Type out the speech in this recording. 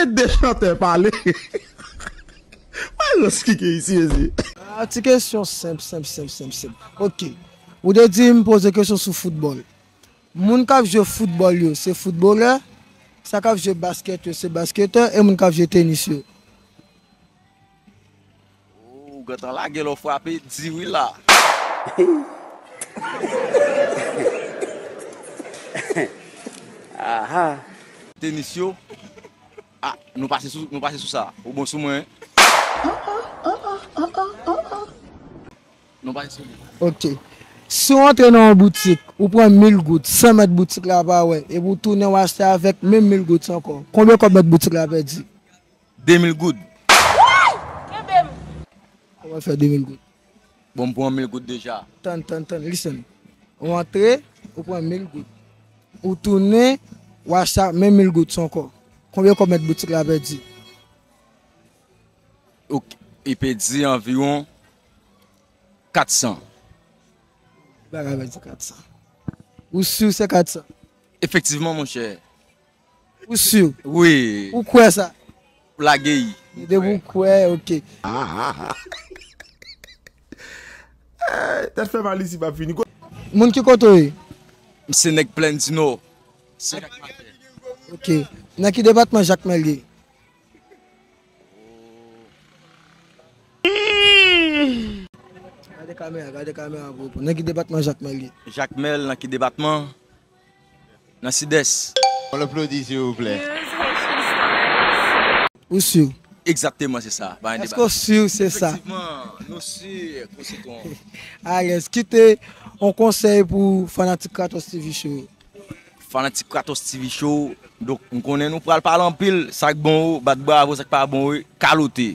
Ede chantè pale. Maestros ki gen isi mezye. Ahh ti kesyon senp senp senp senp senp ok ou te dim poze kesyon sou foutbòl moun kap jwe foutbòl yo se foutbolè sa kap jwe baskèt yo se basketè e moun kap jwe tenis yo Ooh ou gentan lage lò frape di wi la. Ahaa. Tenis yo ah nou pase sou nou pase sou sa ou bon sou mwen. Nou pase sou li. Ok si w antre nan yon boutik ou pran mil goud san mèt boutik la pa wè epi w tounen w achte avèk menm mil goud ankò konbyen kòb mèt boutik la pèdi? 2000 goud. Woyy! Kenbe m! Koman fè 2000 goud? Bon m pran 1000 goud deja. Tann, tann, tann, listen. Ou antre, ou pran 1000 goud. Ou tounen, ou achte ak menm 1000 goud sa ankò. Konbyen kòb mèt boutik la pèdi? Ok, li pèdi anviwon 400. Li pa ka pèdi 400. Ou sur se 400? Efektivman monchè, Ou sur? Wi. Ou kwè sa? Ou lage i. Depi ou kwè, ok. Tèt fè mal isi pap fini. Moun ki kote ou ye? M se nèg Plèn di Nò. Se Jakmèl. Ok. Nan ki depatman Jakmèl ye? Gade kamera, gade kamera pou reponn. Nan ki depatman Jakmèl ye? Jakmèl nan ki depatman? nan sidès. On applaudit s'il vous plait. Ou sur? Exactement se sa, pa gen deba. Eske w sur se sa? Efektivman, nou sur pou sitwon an. Alèz. Kite on konsèy pou fanatik Kratos TV show yo. Fanatik Kratos TV show, donk m konnen nou pral pale anpil, sa k bon bat bravo, sa k pa bon kalote.